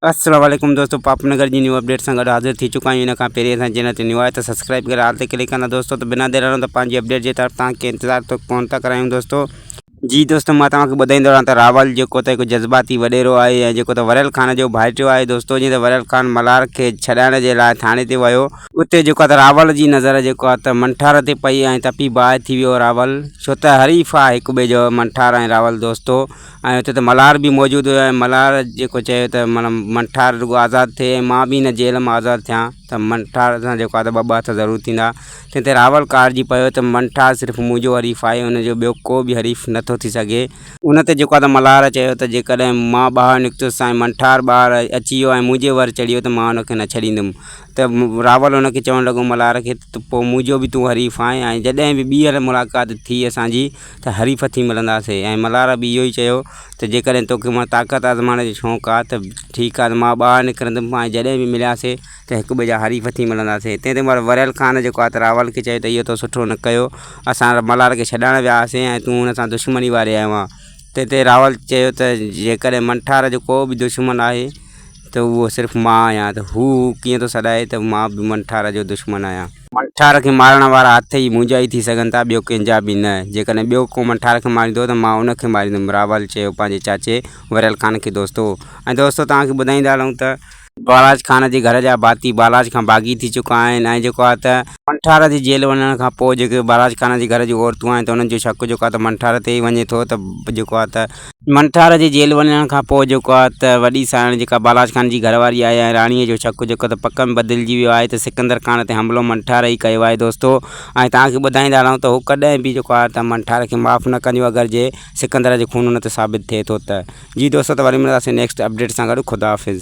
السلام عليڪم دوستو پاپ نگر جي نيو اپڊيٽ سان گڏ حاضر ٿي چڪا آهيون ان کان پهرين اسان چينل تي نيو آهي ته سبسڪرائب ڪري آل تي ڪلڪ ڪندا دوستو ته بنا دير هلندو پنهنجي اپڊيٽ جي طرف تان کي انتظار ٿو ڪون ٿا ڪرايون دوستو جي دوستو مان توهان کي ٻڌائيندو رهان ته راول جيڪو ته هڪ جذباتي وڏيرو آهي ۽ جيڪو ته وريل خان جو ڀائٽيو آهي دوستو جيئن ته وريل خان ملهار کي ڇڏائڻ جي لاء ٿاڻي تي ويو اتي جيڪو ته راول جي نظر جيڪو آهي ته منٺار تي پئي ۽ تپي باهه ٿي ويو راول ڇو ته حريف آهي هڪ ٻئي جو منٺار ۽ راول دوستو ۽ اتي ته ملهار به موجود هيا ۽ ملهار جيڪو چيو ته معنيٰ منٺار رڳو آزاد ٿئي ۽ مان به هن جيل مان آزاد ٿيان ته منٺار سان جيڪو آهي ته ٻه ٻه هٿ ضرور ٿيندا تنهن تي راول ڪارجي پيو ته منٺار صرف منهنجو حريف آهي ان جو ٻيو ڪو به حريف نه ٿو ٿي سگهي. ان تي جيڪو آهي ته ملهار چيو ته جيڪڏهن مان ٻاهر نڪتس ۽ منٺار ٻاهر اچي ويو ۽ منهنجي ور چڙهي ويو ته مان ان کي نه ڇڏيندم ته راول ان کي چوڻ لڳو ملهار کي ته پوء منهنجو به تون حريف آهين ۽ جڏهن به ٻيهر ملاقات ٿي اسان جي ته حريف ٿي ملنداسين ۽ ملهار به اهو ئي چيو ته جيڪڏهن توکي مان طاقت آزمائڻ جو شوق آ ته ٺيڪ آ ته مان ٻاهر نڪرندم ۽ جڏهن به ملياسين ته هڪ ٻئي جا حريف ٿي ملنداسين تنهن تي مر وريل خان جيڪو آ ته راول کي چيو ته اهو تو سٺو نه ڪيو اسان ملهار کي ڇڏائڻ ويا هئاسين ۽ تون هن سان دشمني واري آيو آ تنهن تي راول چيو ته جيڪڏهن منٺار جو ڪو به دشمن آهي ته اهو صرف مان آهيان ته هو ڪيئن ٿو سڏائي ته مان به منٺار جو دشمن آهيان منٺار کي مارڻ وارا هٿ ئي منهنجا ئي ٿي سگهن ٿا، ٻيو ڪنهن جا به نه. جيڪڏهن ٻيو ڪو منٺار کي ماريندو ته مان ان کي ماريندم. راول چيو پنهنجي چاچي وريل خان کي دوستو! ۽ دوستو توهان کي ٻڌائيندا هلون ته. بالاچ خان جي گهر جا ڀاتي بالاچ کان باغي ٿي چڪا آهن ۽ جيڪو آهي ته. منٺار جي جيل وڃڻ کان پوء جيڪي بالاچ خان جي گهر جون عورتون آهن ته انهن جو شڪ جيڪو آهي ته منٺار تي ئي وڃي ٿو ته جيڪو آهي ته. منٺار جي جيل وڃڻ کان پوء جيڪو آهي ته وڏي سانئڻ جيڪا بالاچ خان جي گهر واري آهي ۽ راڻيء جو شڪ جيڪو ته پڪ ۾ بدلجي ويو آهي ته سڪندر خان تي حملو منٺار ئي ڪيو آهي دوستو ۽ توهان کي ٻڌائيندا رهون ته هو ڪڏهن به جيڪو آهي ته منٺار کي معاف نه ڪنديون اگر جي سڪندر جي خون هن تي ثابت ٿئي ٿو ته جي دوستو ته وري ملنداسين نيڪسٽ اپڊيٽ سان گڏ خداحافظ.